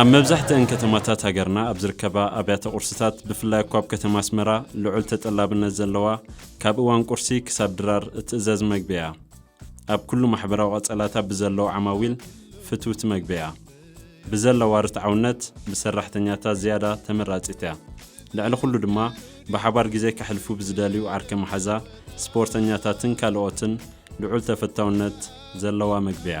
ኣብ መብዛሕትኣን ከተማታት ሃገርና ኣብ ዝርከባ ኣብያተ ቁርስታት ብፍላይ እኳ ኣብ ከተማ ኣስመራ ልዑል ተጠላብነት ዘለዋ ካብ እዋን ቁርሲ ክሳብ ድራር እትእዘዝ መግቢ እያ። ኣብ ኩሉ ማሕበራዊ ቀጸላታ ብዘለዉ ዓማዊል ፍትውቲ መግቢ እያ። ብዘለዋ ርትዓውነት ብሰራሕተኛታት ዝያዳ ተመራጺት እያ። ልዕሊ ኩሉ ድማ ብሓባር ግዜ ከሕልፉ ብዝደልዩ ዓርከ መሓዛ፣ ስፖርተኛታትን ካልኦትን ልዑል ተፈታውነት ዘለዋ መግቢ እያ።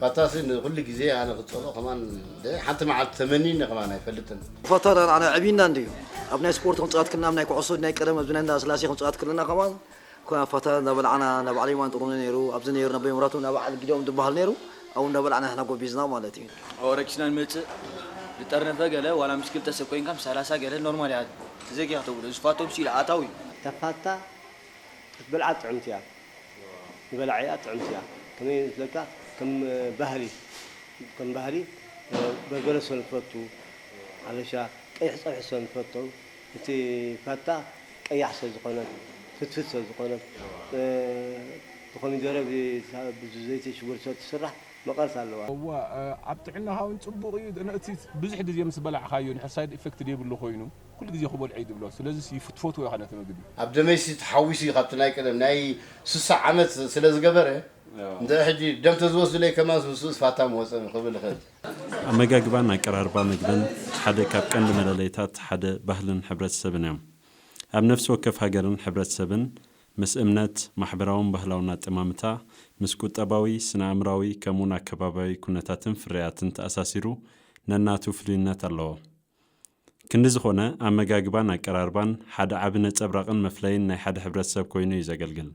ፋታሲ ንኩሉ ግዜ ኣነ ክጸልኦ ከማን ደ ሓንቲ መዓልቲ ተመኒኒ ከማን ኣይፈልጥን። ፋታ ዳኣ ንዓና ኣዕብዩና እንድዩ ኣብ ናይ ስፖርት ክንጻወት ክልና ኣብ ናይ ኩዕሶ ናይ ቀደም ኣብዚ ናይ እንዳ ስላሴ ክንጻወት ክልና ከማን ኮና ፋታ እንዳ በላዕና እንዳ በዓል የማን ጥሩነህ ነይሩ ኣብዚ ነይሩ ነቦይ መብራቱ እንዳ በዓል ጊዶም ዝብሃል ነይሩ ኣብኡ እንዳ በላዕና ንሕና ጎቢዝና ማለት እዩ። ኣብኡ ረኪስና ንመጽእ ዝጠርነፈ ገለ ዋላ ምስ ክልተ ሰብ ኮይንካ ምስ ሰላሳ ገለ ኖርማል እያ ተዘጊካ ተብሎ እዚ ፋቶ ምስ ኢድ ኣእታው እዩ። እታ ፋታ ክትበልዓ ጥዕምቲ እያ ንበላዒኣ ጥዕምቲ እያ ከመይ መስለካ ከም ባህሪ ከም ባህሪ በርበረ ሰብ ዝፈቱ ኣበሻ ቀይሕ ፀብሒ ሰብ ዝፈቱ እቲ ፋታ ቀያሕ ሰብ ዝኮነት ፍትፍት ሰብ ዝኮነት ብኮሚደረ ብዘይቲ ሽጉርቲ ሰብ ትስራሕ መቀረት ኣለዋ። እወ ኣብ ጥዕናኻ ውን ጽቡቕ እዩ ግን እቲ ብዙሕ ግዜ ምስ በላዕካዮ ንሕር ሳይድ ኢፈክት ዘይብሉ ኮይኑ። ኩሉ ግዜ ክበልዖ እዩ ዝብሎ ስለዚስ ትፈትዎ ኢኻ ነቲ ምግቢ። ኣብ ደመይሲ ተሓዊሱ እዩ ካብቲ ናይ ቀደም ናይ ስሳ ዓመት ስለ ዝገበረ እንድዒ ሕጂ ደም ተዝወስዱለይ ከማንስ ምስኡስ ፋታ ምወጸኒ ክብል ይኽእል። ኣመጋግባን ኣቀራርባ ምግብን ሓደ ካብ ቀንዲ መለለይታት ሓደ ባህልን ሕብረተሰብን እዮም። ኣብ ነፍሲ ወከፍ ሃገርን ሕብረተሰብን ምስ እምነት፣ ማሕበራውን ባህላውን ኣጠማምታ፣ ምስ ቁጠባዊ፣ ስነ-ኣእምራዊ ከምኡውን ኣከባብያዊ ኩነታትን ፍርያትን ተኣሳሲሩ ነናቱ ፍሉይነት ኣለዎ። ክንዲ ዝኾነ፣ ኣመጋግባን ኣቀራርባን ሓደ ዓቢ ነጸብራቕን መፍለይን ናይ ሓደ ሕብረተሰብ ኮይኑ እዩ ዘገልግል።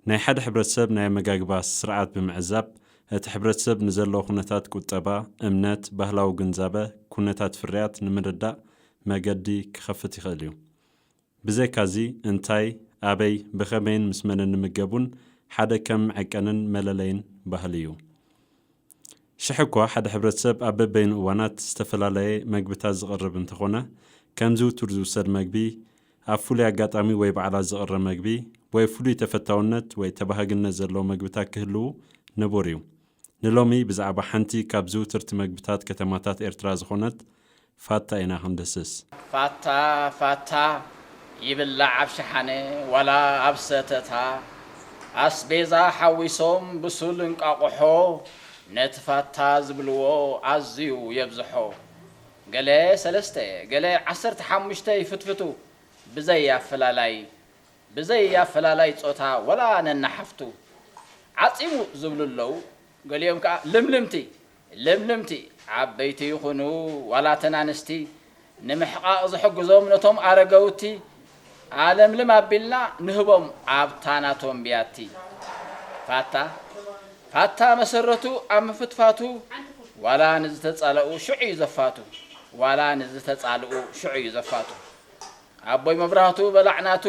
ናይ ሓደ ሕብረተሰብ ናይ ኣመጋግባ ስርዓት ብምዕዛብ፣ እቲ ሕብረተሰብ ንዘለዎ ኩነታት ቁጠባ፣ እምነት፣ ባህላዊ ግንዛበ፣ ኩነታት ፍርያት ንምርዳእ መገዲ ክኸፍት ይኽእል እዩ። ብዘይካዚ እንታይ፣ ኣበይ፣ ብኸመይን ምስ መንን ንምገብ እውን ሓደ ከም መዐቀንን መለለይን ባህሊ እዩ። ሽሕ እኳ ሓደ ሕብረተሰብ ኣብ በበይኑ እዋናት ዝተፈላለየ መግብታት ዝቕርብ እንተኾነ፣ ከም ዝውቱር ዝውሰድ መግቢ፣ ኣብ ፍሉይ ኣጋጣሚ ወይ በዓላት ዝቕረ መግቢ ወይ ፍሉይ ተፈታውነት ወይ ተባሃግነት ዘለዎ መግብታት ክህልው ንቡር እዩ። ንሎሚ ብዛዕባ ሓንቲ ካብ ዝውትርቲ መግብታት ከተማታት ኤርትራ ዝኾነት ፋታ ኢና ክንድስስ። ፋታ ፋታ ይብላዕ ኣብ ሸሓነ ዋላ ኣብ ሰተታ ኣስቤዛ ሓዊሶም ብሱል እንቋቑሖ ነቲ ፋታ ዝብልዎ ኣዝዩ የብዝሖ ገለ ሰለስተ ገለ ዓሰርተ ሓሙሽተ ይፍትፍቱ ብዘይ ኣፈላላይ ብዘይ ኣፈላላይ ጾታ ወላ ነንሓፍቱ ዓጺሙ ዝብሉ ኣለዉ ገሊኦም ከኣ ልምልምቲ ልምልምቲ፣ ዓበይቲ ይኹኑ ዋላ እተን ኣንስቲ፣ ንምሕቓቕ ዝሕግዞም ነቶም ኣረገውቲ ኣለምልም ኣቢልና ንህቦም ኣብታ ናቶም ብያቲ። ፋታ፣ ፋታ መሰረቱ ኣብ ምፍትፋቱ ዋላ ንዝተጻለኡ ሽዑ እዩ ዘፋቱ፣ ዋላ ንዝተጻልኡ ሽዑ እዩ ዘፋቱ። ኣቦይ መብራህቱ በላዕ ናቱ፣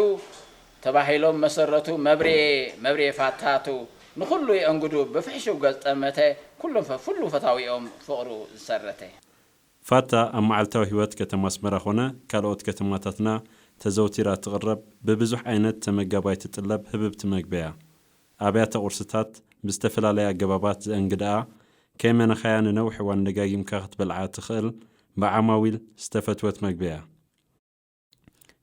ተባሂሎም መሰረቱ መብርየ መብርየ ፋታቱ ንኹሉ የእንግዱ ብፍሕሹው ገጽ ጠመተ ኩሉ ፈፍሉ ፈታዊኦም ፍቕሩ ዝሰረተ። ፋታ ኣብ መዓልታዊ ህይወት ከተማ ኣስመራ ኮነ ካልኦት ከተማታትና ተዘውቲራ እትቕረብ ብብዙሕ ዓይነት ተመጋባይ ትጥለብ ህብብቲ መግቢ'ያ። ኣብያተ ቁርስታት ብዝተፈላለየ ኣገባባት ዘእንግድኣ ከይመነኻያ ንነዊሕ እዋን ደጋጊምካ ክትበልዓ እትኽእል ብዓማዊል ዝተፈትወት መግቢ'ያ።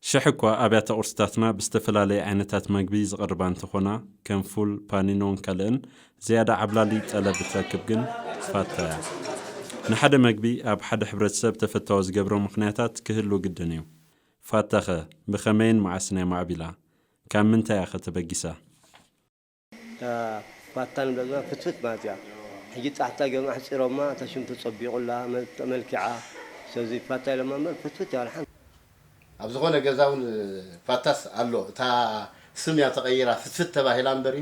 ሽሕ እኳ ኣብያተ ቁርስታትና ብዝተፈላለየ ዓይነታት መግቢ ዝቕርባ እንተኾና ከም ፉል፣ ፓኒኖን ካልእን ዝያዳ ዓብላሊ ጠለብ እትረክብ ግን ፋታ እያ። ንሓደ መግቢ ኣብ ሓደ ሕብረተሰብ ተፈታዊ ዝገብሮ ምኽንያታት ክህሉ ግድን እዩ። ፋታ'ኸ ብኸመይን መዓስን እያ ማዕቢላ? ካብ ምንታይ እያ'ኸ ተበጊሳ? እታ ፋታ ንብላ ዘለና ፍትፍት ማለት እያ ሕጂ ጣሕታ ገይሮም ኣሕጺሮማ እታ ሽም ተጸቢቑላ ተመልኪዓ ስለዚ ፋታ ኢሎማ እምበር ፍትፍት እያ ወላ ኣብ ዝኾነ ገዛ ውን ፋታስ ኣሎ እታ ስም እያ ተቐይራ ፍትፍት ተባሂላ እምበሪ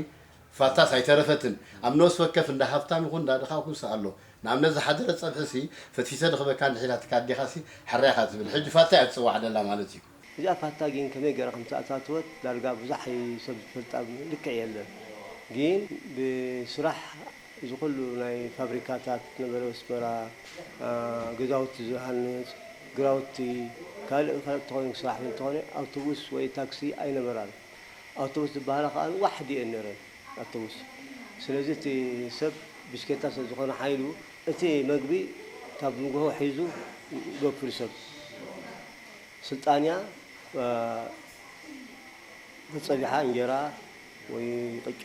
ፋታስ ኣይተረፈትን ኣብ ነብሲ ወከፍ እንዳ ሃብታም ይኹን እንዳ ድኻ ኩንስ ኣሎ ንኣብነት ዝሓደረ ጸብሒ ሲ ፈትፊተ ድኽበካ እንድሕር ኢላትካ ኣዴኻ ሲ ሕራይ ኢኻ ትብል ሕጂ ፋታ እያ ትጽዋዕ ደላ ማለት እዩ እዚኣ ፋታ ጊን ከመይ ገራ ከም ዝተኣታተወት ዳርጋ ብዙሕ ኣይ ሰብ ዝፈልጣ ልክዕ የለን ጊን ብስራሕ እዚ ኩሉ ናይ ፋብሪካታት ነበረ ወስበራ ገዛውቲ ዝሃንጽ ግራውቲ ካልእ ካልእ ተኾይኑ ክስራሕ እንተኾነ ኣውቶቡስ ወይ ታክሲ ኣይ ነበራን ኣውቶቡስ ዝባሃላ ከኣ ዋሕዲ እየን ነረን ኣውቶቡስ ስለዚ እቲ ሰብ ብሽኬታ ስለ ዝኾነ ሓይሉ እቲ መግቢ ካብ ንጉሆ ሒዙ ይወፍር ሰብ። ስልጣንያ ተጸቢሓ እንጀራ ወይ ቅጫ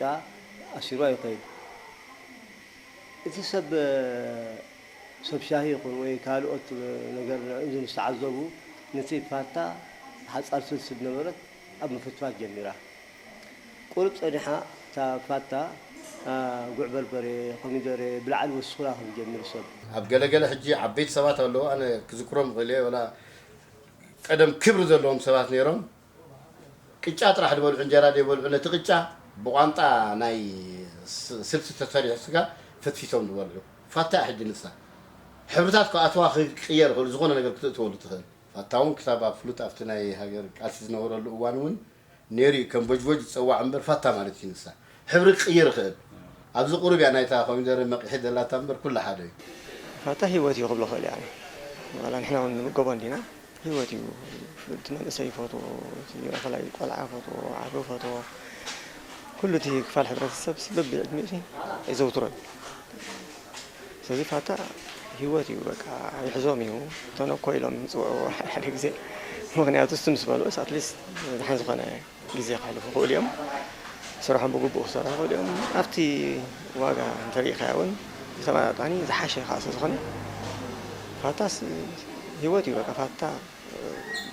ኣሲሩ ኣይኸይድ። እቲ ሰብ ሰብ ሻሂ ይኹን ወይ ካልኦት ነገር ንእዚ ምስ ተዓዘቡ ነቲ ፋታ ሓጻር ስልሲ ዝነበረት ኣብ ምፍትፋት ጀሚራ። ቁሩብ ጸኒሓ እታ ፋታ ጉዕ በርበሬ፣ ኮሚደረ፣ ብላዕሊ ወሲኹላ ክትጀምር ሰብ። ኣብ ገለ ገለ ሕጂ ዓበይቲ ሰባት ኣለዉ ኣነ ክዝክሮም እኽእል እየ ወላ ቀደም ክብሪ ዘለዎም ሰባት ነይሮም ቅጫ ጥራሕ ድበልዑ እንጀራ ደይበልዑ ነቲ ቅጫ ብቋንጣ ናይ ስልሲ ተሰሪሑ ስጋ ፈትፊቶም ድበልዑ ፋታ እያ ሕጂ ንሳ ሕብርታት ክኣትዋ ክቅየር ይኽእሉ ዝኾነ ነገር ክትእትወሉ ትኽእል ፋታ ውን ክሳብ ኣብ ፍሉጥ ኣብቲ ናይ ሃገር ቃልሲ ዝነበረሉ እዋን ውን ነይሩ'ዩ ከም ቮጅቮጅ ዝጸዋዕ እምበር ፋታ ማለት እዩ ንሳ ሕብሪ ክቅይር ይኽእል ኣብዚ ቁሩብ እያ ናይታ ኮሚደረ መቂሒ ዘላታ እምበር ኩሉ ሓደ እዩ። ፋታ ሂወት እዩ ክብሎ ክእል እየ ኣነ ዋላ ንሕና ውን ንምገቦ እንዲና ሂወት እዩ እቲ መንእሰይ ይፈትዎ እቲ ኣፈላይ ቆልዓ ይፈትዎ ዓቢ ይፈትዎ ኩሉ እቲ ክፋል ሕብረተሰብሲ በብዕድሚኡሲ የዘውትሮ እዩ። ሰዚ ፋታ ሂወት እዩ በቃ ይሕዞም እዩ ተነኮ ኢሎም ዝጽውዕዎ ሓደ ሓደ ግዜ ምክንያቱ እሱ ምስ በልዑስ ኣትሊስት ድሓን ዝኮነ ግዜ ከሕልፉ ይክእሉ እዮም ስርሖም ብግቡእ ክሰርሑ ይክእሉ እዮም ኣብቲ ዋጋ እንተሪኢካዮ እውን ብተመጣጣኒ ዝሓሸ ከዓ ስለዝኮነ ፋታስ ሂወት እዩ በቃ ፋታ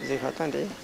ብዘይ ፋታ እንድዒ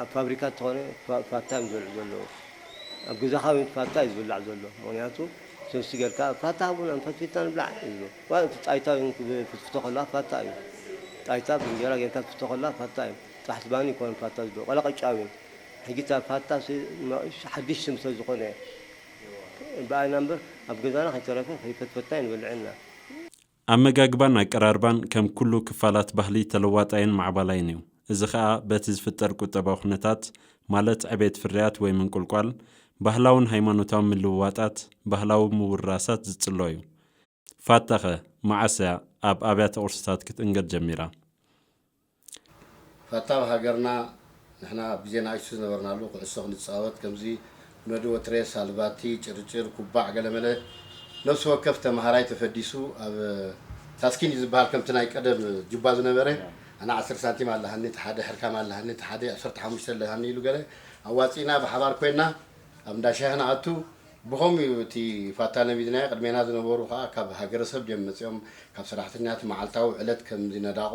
ኣብ ፋብሪካ እንተኾነ ፋታ እዮም ዝበልዑ ዘለዉ ኣብ ገዛኻ ውን ፋታ እዩ ዝብላዕ ዘሎ ምኽንያቱ ሰብሲ ጌርካ ፋታ ሃቡና ፈትፊትና ንብላዕ ይብሉ ዋላ እቲ ጣይታ ውን ክትፍትፍቶ ከለኻ ፋታ እዩ ጣይታ ብእንጀራ ጌርካ ክትፍቶ ከለኻ ፋታ እዩ ጥራሕ ዝባኒ ኣይኮነን ፋታ ዝብልዑ ዋላ ቅጫ ውን ሕጂ እታ ፋታሲ ሓድሽ ስም ስለ ዝኾነ ብኣና እምበር ኣብ ገዛና ከይተረፈ ከይፈትፈትና'ዩ ንበልዕ እና። ኣመጋግባን ኣቀራርባን ከም ኩሉ ክፋላት ባህሊ ተለዋጣይን ማዕባላይን እዩ። እዚ ከኣ በቲ ዝፍጠር ቁጠባዊ ኩነታት፣ ማለት ዕቤት ፍርያት ወይ ምንቁልቋል፣ ባህላውን ሃይማኖታውን ምልውዋጣት፣ ባህላዊ ምውርራሳት ዝጽሎ እዩ። ፋታኸ፣ መዓስ እያ ኣብ ኣብያተ ቁርስታት ክትእንገድ ጀሚራ? ፈታው ሃገርና ንሕና ኣብ ግዜ ናእሽቱ ዝነበርናሉ ኩዕሶ ክንጻወት ከምዚ ነዱ ወትሬስ ሃልባቲ ጭርጭር ኩባዕ ገለመለ ነብሲ ወከፍ ተማሃራይ ተፈዲሱ ኣብ ታስኪን እዩ ዝብሃል ከምቲ ናይ ቀደም ጁባ ዝነበረ ኣነ ዓሰርተ ሳንቲም ኣለሃኒ እቲ ሓደ ሕርካም ኣለሃኒ እቲ ሓደ ዓሰርተ ሓሙሽተ ኣለሃኒ ኢሉ ገለ ኣዋጺእና ብሓባር ኮይና ኣብ እንዳ ሻሂ ክንኣቱ ብኸምኡ እዩ እቲ ፋታ ነቢድናዮ ቅድሜና ዝነበሩ ከኣ ካብ ሃገረሰብ ድዮም መጺኦም ካብ ሰራሕተኛ እቲ መዓልታዊ ዕለት ከምዚ ነዳቖ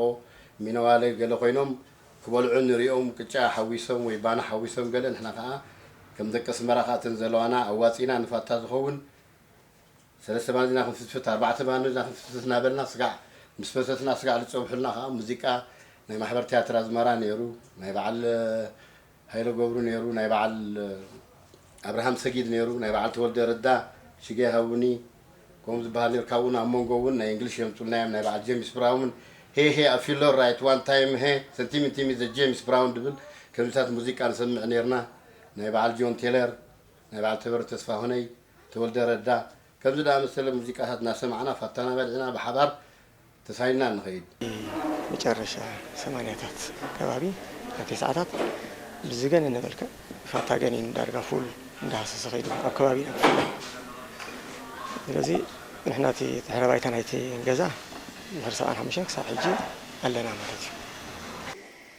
ሚነዋለ ገለ ኮይኖም ክበልዑ ንሪኦም ቅጫ ሓዊሶም ወይ ባኒ ሓዊሶም ገለ ንሕና ከኣ ከም ደቂ ኣስመራ ከኣ እተን ዘለዋና ኣዋጺእና ንፋታ ዝኸውን ሰለስተ ባኒ ሒዝና ክንፍትፍት ኣርባዕተ ባኒ ሒዝና ክንፍትፍት እናበልና ስጋዕ ምስ ፈተትና ስጋዕ ዝጸብሑልና ከኣ ሙዚቃ ናይ ማሕበር ትያትር ኣዝመራ ኔሩ ናይ በዓል ሃይለ ገብሩ ነይሩ ናይ በዓል ኣብርሃም ሰጊድ ነይሩ ናይ በዓል ተወልደ ረዳ ሽገ ሃውኒ ከምኡ ዝበሃል ነይሩ ካብኡ ን ኣብ መንጎ ውን ናይ እንግሊሽ የምጹልና እዮም ናይ በዓል ጀምስ ብራውን ሄይ ሄይ ኣብ ፊለር ራይት ዋን ታይም ሄ ሰንቲሚንቲሚ ዘ ጀምስ ብራውን ድብል ከምዚታት ሙዚቃ ንሰምዕ ነይርና ናይ በዓል ጆን ቴለር ናይ በዓል ተበረ ተስፋሁነይ ተወልደ ረዳ ከምዚ ድኣመሰለ ሙዚቃታት እናሰማዕና ፋታና በሊዕና ብሓባር ተሳኢንና ንኸይድ። ኣብ መጨረሻ ሰማንያታት ከባቢ ኣብ ተስዓታት ብዝገነነ መልክዕ ፋታ ገኒኑ ዳርጋ ፉል እንዳሃሰሰ ከይዱ ኣብ ከባቢና ብፍላይ ስለዚ ንሕና እቲ ድሕረ ባይታ ናይቲ ገዛ ድሕሪ ሰብዓን ሓሙሽተን ክሳብ ሕጂ ኣለና ማለት እዩ።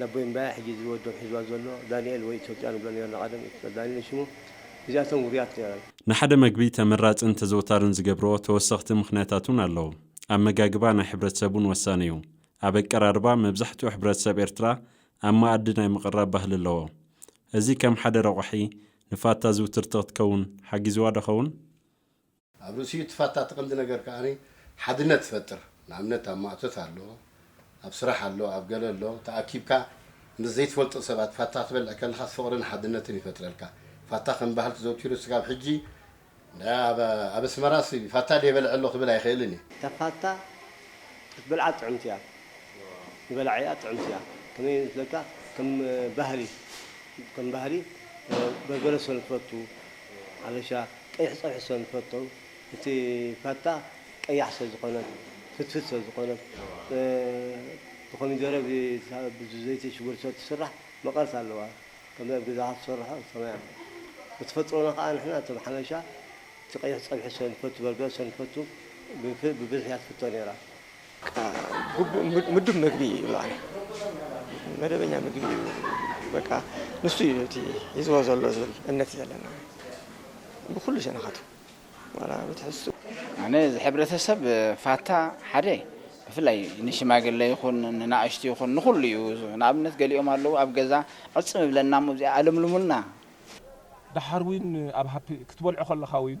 ነቦይ እምበኣያ ሕጂ እዚ ወዶም ሒዝዋ ዘሎ ዳኒኤል ወይ ኢትዮጵያ ንብሎ ኔርና ቀደም ኢትዮጵያ ዳኒኤል እዩ ሽሙ እዚኣቶም ውሩያት ኔረን። ንሓደ መግቢ ተመራጽን ተዘውታርን ዝገብርኦ ተወሰኽቲ ምኽንያታት እውን ኣለዉ። ኣመጋግባ ናይ ሕብረተሰብ እውን ወሳኒ እዩ። ኣብ ኣቀራርባ መብዛሕትኡ ሕብረተሰብ ኤርትራ ኣብ መኣዲ ናይ ምቕራብ ባህሊ ኣለዎ። እዚ ከም ሓደ ረቋሒ ንፋታ ዝውትርቲ ክትከውን ሓጊዝዋዶ ኸውን? ኣብ ርእሲኡ እቲ ፋታ እቲ ቀንዲ ነገር ከኣ ሓድነት ትፈጥር ንኣብነት ኣብ ማእቶት ኣሎ ኣብ ስራሕ ኣሎ ኣብ ገለ ኣሎ ተኣኪብካ ምስ ዘይትፈልጦ ሰባት ፋታ ክትበልዕ ከለኻስ ፍቕርን ሓድነትን ይፈጥረልካ ፋታ ከም ባህል ትዘውቲሩ ስጋብ ሕጂ ኣብ ኣስመራስ ፋታ ድየ በልዐ ኣሎ ክብል ኣይኽእልን እየ። እታ ፋታ ክትበልዓ ጥዕምቲ እያ ንበላዒኣ ጥዕምቲ እያ ከመይ መስለካ ከም ባህሊ ከም ባህሊ በርበረ ሰለ ትፈቱ ኣለሻ፣ ቀይሕ ፀብሒ ሰለንፈቱ እቲ ፋታ ቀያሕ ሰለዝኮነት ፍትፍት ሰለዝኮነት ብኮሚደረ ብዘይቲ ሽጉርቲ ሰለትስራሕ መቀረት ኣለዋ ከምዚ ኣብ ገዛካ ትሰርሖ ከምይ ኣምበር ብተፈጥሮና ካኣ ንሕና እቶም ሓበሻ እቲ ቀይሕ ፀብሒ ሰለንፈቱ በርበረ ሰለንፈቱ ብብዝሒ እያ ትፍቶ ነይራ ግቡእ ምዱብ ምግቢ እዩ ይብልኣን መደበኛ ምግቢ እዩ በቃ ንሱ እዩ እቲ ሒዝዎ ዘሎ ዝብል እምነት ዘለና ብኩሉ ሸነኻቱ ዋላ ብትሕዝቱ ኣነ እዚ ሕብረተሰብ ፋታ ሓደ ብፍላይ ንሽማግለ ይኹን ንናእሽቱ ይኹን ንኹሉ እዩ ንኣብነት ገሊኦም ኣለዉ ኣብ ገዛ ዕፅም እብለና እሞ እዚኣ ኣለምልሙልና ደሓር ውን ኣብ ሃፒ ክትበልዖ ከለኻ ውን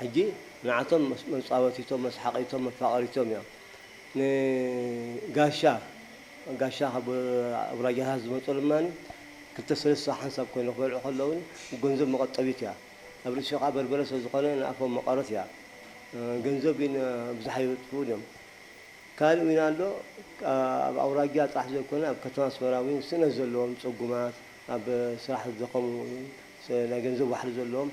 ሕጂ ንዓቶም መጻወቲቶም መስሓቒቶም መፋቐሪቶም እያ። ን ጋሻ ጋሻ ካብ ኣውራጃታት ዝመጹ ድማ ክልተ ሰለስተ ሓንሳብ ኮይኖም ክበልዑ ከለዉ ገንዘብ መቐጠቢት እያ። ኣብ ርእሲኡ ከኣ በርበረ ስለ ዝኾነ ንኣፎም መቐረት እያ። ገንዘብ ግን ኣብዝሓ የበጥብኡን እዮም። ካልእ ዊን ኣሎ ኣብ ኣውራጃ ጥራሕ ዘይኮነ ኣብ ከተማ ኣስመራ ዊን ስእነት ዘለዎም ጽጉማት ኣብ ስራሕ ዝደኸሙ ናይ ገንዘብ ዋሕዲ ዘለዎም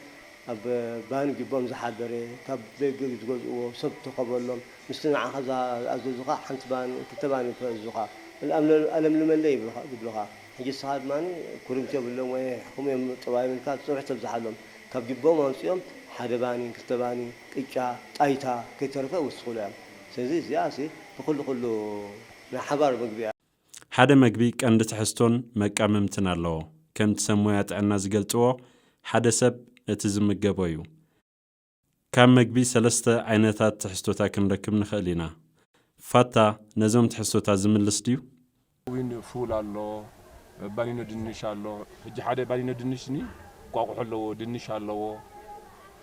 ኣብ ባኒ ጅቦም ዝሓደረ ካብ ደገ ዝገዝእዎ ሰብ ተከበሎም ምስቲ ንዓካ ዝኣዘዙካ ሓንቲ ባኒ ክልተ ባኒ ክእዝዙካ ኣለምልመለይ ይብሉካ ሕጂ ንስካ ድማ ኩርምቲ የብሎም ወይ የሕክሙ እዮም ጥባዮም ኢልካ ትፅንሑ ተብዝሓሎም ካብ ጅቦም ኣምፂኦም ሓደ ባኒ ክልተ ባኒ ቅጫ ጣይታ ከይተረፈ ይውስኩላ እዮም ስለዚ እዚኣሲ ንኩሉ ኩሉ ናይ ሓባር ምግቢ እያ። ሓደ መግቢ ቀንዲ ትሕዝቶን መቃምምትን ኣለዎ። ከምቲ ሰብ ሞያ ጥዕና ዝገልጽዎ ሓደ ሰብ እቲ ዝምገቦ እዩ። ካብ መግቢ ሰለስተ ዓይነታት ትሕዝቶታ ክንረክብ ንኸእል ኢና። ፋታ ነዞም ትሕዝቶታ ዝምልስ ድዩ? ሓዊን ፉል ኣሎ፣ ባኒኖ ድንሽ ኣሎ፣ ሕጂ ሓደ ባኒኖ ድንሽ ስኒ እንቋቁሖ ኣለዎ፣ ድንሽ ኣለዎ፣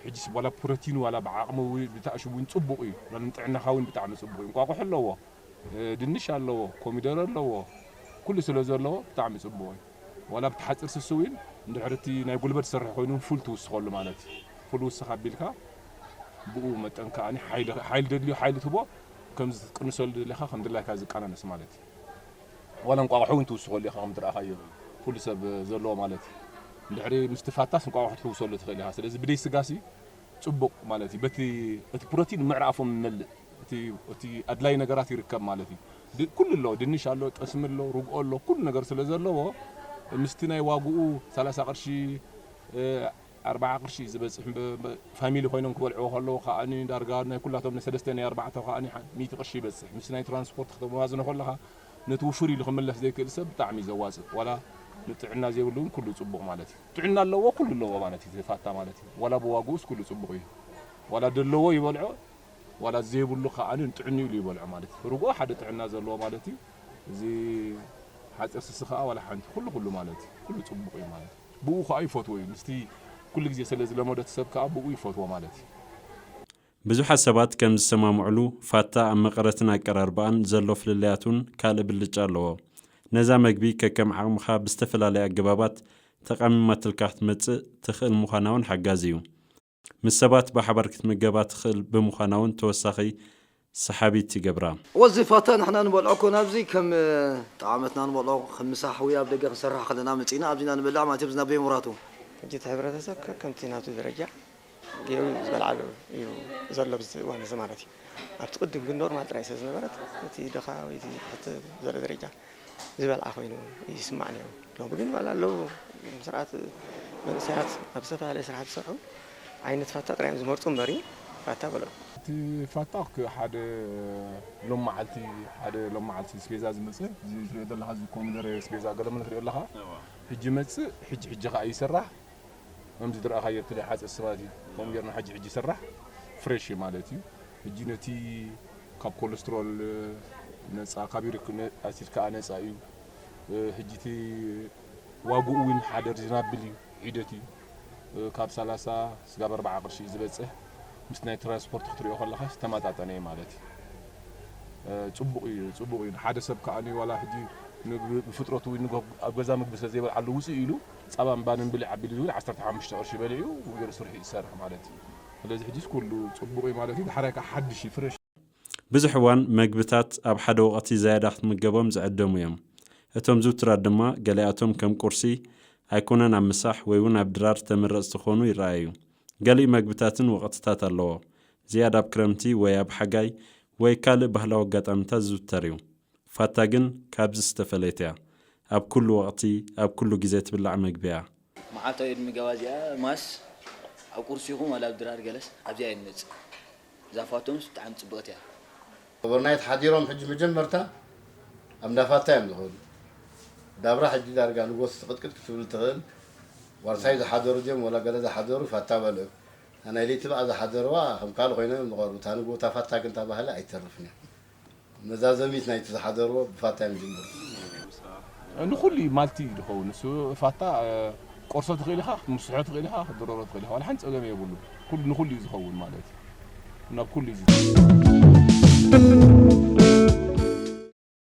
ሕጂስ ዋላ ፕሮቲን ዋላ ብዓቕሚ ውን ብታእሽውን ጽቡቕ እዩ ንጥዕናኻ ውን ብጣዕሚ ጽቡቕ እዩ እንቋቁሖ ኣለዎ። ድንሽ ኣለዎ ኮሚደረ ኣለዎ ኩሉ ስለ ዘለዎ ብጣዕሚ ጽቡቅ እዩ ዋላ ብቲ ሓጽር ስሱ ዊን እንድሕሪ እቲ ናይ ጉልበት ዝሰርሕ ኮይኑ ውን ፉል ትውስከሉ ማለት እዩ ፉል ውስክ ኣቢልካ ብኡ መጠን ከኣኒ ሓይሊ ሓይሊ ደድልዮ ሓይሊ ትቦ ከምዚ ትቅንሰሉ ደሊካ ከም ድላይካ ዝቀናነስ ማለት እዩ ዋላ እንቋቑሖ ውን ትውስከሉ ኢካ ከም ትረኣኻዮ ፉል ሰብ ዘለዎ ማለት እዩ እንድሕሪ ምስ ትፋታስ እንቋቑሖ ትሕውሰሉ ትኽእል ኢካ ስለዚ ብደይ ስጋሲ ጽቡቅ ማለት እዩ በቲ እቲ ፕሮቲን ምዕራፎም ይመልእ እቲ እቲ ኣድላይ ነገራት ይርከብ ማለት እዩ። ድ ኩሉ ኣሎ ድንሽ ኣሎ ጠስሚ ኣሎ ርግኦ ኣሎ ኩሉ ነገር ስለ ዘለዎ ምስቲ ናይ ዋግኡ ሰላሳ ቅርሺ እ ኣርብዓ ቅርሺ እዩ ዝበጽሕ እም ብ ፋሚሊ ኮይኖም ክበልዕዎ ከለዉ ከኣኒ ዳርጋ ናይ ኩላቶም ናይ ሰለስተ ናይ ኣርባዕተ ከኣኒ ሓ ሚእቲ ቅርሺ ይበጽሕ ምስ ናይ ትራንስፖርት ክተመዋዝኖ ከለኻ ነቲ ውፍር ኢሉ ክምለስ ዘይክእል ሰብ ብጣዕሚ እዩ ዘዋጽእ ዋላ ንጥዕና ዘይብሉ እውን ኩሉ ጽቡቕ ማለት እዩ። ጥዕና ኣለዎ ኩሉ ኣለዎ ማለት እዩ ዘፋታ ማለት እዩ ዋላ ብዋግኡስ ኩሉ ጽቡቕ እዩ ዋላ ደለዎ ይበልዖ ዋላ ዘይብሉ ከኣ ንጥዕንኡ ኢሉ ይበልዖ ማለት ርግኦ ሓደ ጥዕና ዘለዎ ማለት እዩ እዚ ሓጺር ስሲ ከኣ ዋላ ሓንቲ ኩሉ ኩሉ ማለት እዩ ኩሉ ጽቡቅ እዩ ማለት እዩ ብኡ ከኣ ይፈትዎ እዩ ምስቲ ኩሉ ግዜ ስለ ዝለመዶ እቲ ሰብ ከኣ ብኡ ይፈትዎ ማለት እዩ። ብዙሓት ሰባት ከም ዝሰማምዑሉ ፋታ ኣብ መቐረትን ኣቀራርባኣን ዘሎ ፍልልያት ውን ካልእ ብልጫ ኣለዎ። ነዛ መግቢ ከከም ዓቕምኻ ብዝተፈላለየ ኣገባባት ተቓሚማትልካ ክትመጽእ ትኽእል ምዃና ውን ሓጋዚ እዩ። ምስ ሰባት ብሓባር ክትምገባ ትኽእል ብምዃና ውን ተወሳኺ ሰሓቢት ይገብራ። ወዚ ፋታ ንሕና ንበልዖ ኮነ ኣብዚ ከም ጠዓመትና ንበልዖ ከም ምሳሕ ወይ ኣብ ደገ ክንሰርሕ ከለና መጺእና ኣብዚ ኢና ንበልዕ ማለት እዮም ዝናበዩ ምሁራቱ። ሕጂ እቲ ሕብረተሰብ ከከምቲ ናቱ ደረጃ ጌሩ እዩ ዝበልዓሉ እዩ ዘሎ ኣብዚ እዋን እዚ ማለት እዩ። ኣብቲ ቅድም ግን ኖርማል ጥራይ ስለ ዝነበረት እቲ ድኻ ወይ እቲ ትሕት ዝበለ ደረጃ ዝበልዓ ኮይኑ ይስማዕ ነይሩ። ሎሚ ግን ዋላ ኣለዉ እዞም ስርዓት መንእሰያት ኣብ ዝተፈላለየ ስራሕቲ ዝሰርሑ ዓይነት ፋታ ጥራይ እዮም ዝመርጹ እምበሪ ፋታ በሎም። እቲ ፋታ እክ ሓደ ሎም መዓልቲ ሓደ ሎም መዓልቲ እስቤዛ ዝመጸ እዚ ትሪኦ ዘለኻ እዚ ኮሚደረ እስቤዛ ገለመለ ትሪኦ ኣለኻ ሕጂ ይመጽእ ሕጂ ሕጂ ከኣ ይስራሕ ከምዚ ድርኣኻዮ እቲ ናይ ሓጸ ስባት እዩ ከምኡ ጌርና ሕጂ ሕጂ ይስራሕ ፍሬሽ እዩ ማለት እዩ ሕጂ ነቲ ካብ ኮለስትሮል ነጻ ካብ ዩሪክ ኣሲድ ከኣ ነጻ እዩ ሕጂ እቲ ዋግኡ እውን ሓደ ሪዝናብል እዩ ሒደት እዩ ካብ ሰላሳ ስጋብ ኣርብዓ ቅርሺ እዩ ዝበጽሕ ምስ ናይ ትራንስፖርት ክትሪኦ ከለኻ ዝተመጣጠነ እዩ ማለት እዩ ጽቡቅ እዩ ጽቡቅ እዩ ሓደ ሰብ ከኣ ዋላ ሕጂ ብፍጥረቱ ኣብ ገዛ ምግቢ ስለ ዘይበልዓሉ ውጽእ ኢሉ ጻባን ባንን ብልዕ ኣቢሉ ዝብል ዓሰርተ ሓሙሽተ ቅርሺ በሊዑ ገሩ ስርሑ ይሰርሕ ማለት እዩ ስለዚ ሕጂስ ኩሉ ጽቡቅ እዩ ማለት እዩ ዳሕራይ ካኣ ሓድሽ እዩ ፍረሽ ብዙሕ እዋን መግብታት ኣብ ሓደ ወቐቲ ዛያዳ ክትምገቦም ዝዕደሙ እዮም። እቶም ዝውቱራት ድማ ገሊኣቶም ከም ቁርሲ፣ ኣይኮነን ኣብ ምሳሕ ወይ ውን ኣብ ድራር ተመረጽቲ ክኾኑ ይረኣዩ። ገሊኡ መግብታትን ወቐትታት ኣለዎ። ዝያዳ ኣብ ክረምቲ ወይ ኣብ ሓጋይ ወይ ካልእ ባህላዊ ኣጋጣሚታት ዝውተር እዩ። ፋታ ግን ካብዚ ዝተፈለየት እያ ኣብ ኩሉ ወቅቲ ኣብ ኩሉ ግዜ ትብላዕ መግቢ እያ። መዓልታዊ እድሚ ገባ እዚኣ ማስ ኣብ ቁርሲ ይኹን ዋላ ኣብ ድራር ገለስ ኣብዚኣ እያ ትመጽእ እዛ ፋቶምስ ብጣዕሚ ጽብቅቲ እያ። ኦቨርናይት ሓዲሮም ሕጂ መጀመርታ ኣብ እንዳ ፋታ እዮም ዝኸዱ ዳብራ ሕጂ ዳርጋ ንጎስ ስቕጥቅጥ ክትብል ትኽእል ዋርሳይ ዝሓደሩ ድዮም ወላ ገለ ዝሓደሩ ፋታ በልዑ እታ ናይ ለይቲ ብኣ ዝሓደርዋ ከም ካልእ ኮይኖም እዮም ዝቐርቡ እታ ንግሆ እታ ፋታ ግን እታ ባህሊ ኣይትተርፍን እያ መዛዘሚት ናይቲ ዝሓደርዎ ብፋታ እዮም ዝጅምሩ። ንኹሉ እዩ ማልቲ እዩ ዝኸውን ንሱ ፋታ ቆርሶ ትኽእል ኢኻ ክትምስሖ ትኽእል ኢኻ ክትድረሮ ትኽእል ኢኻ ዋላ ሓንቲ ፀገም የብሉን ኩሉ ንኹሉ እዩ ዝኸውን ማለት እዩ ናብ ኩሉ እዩ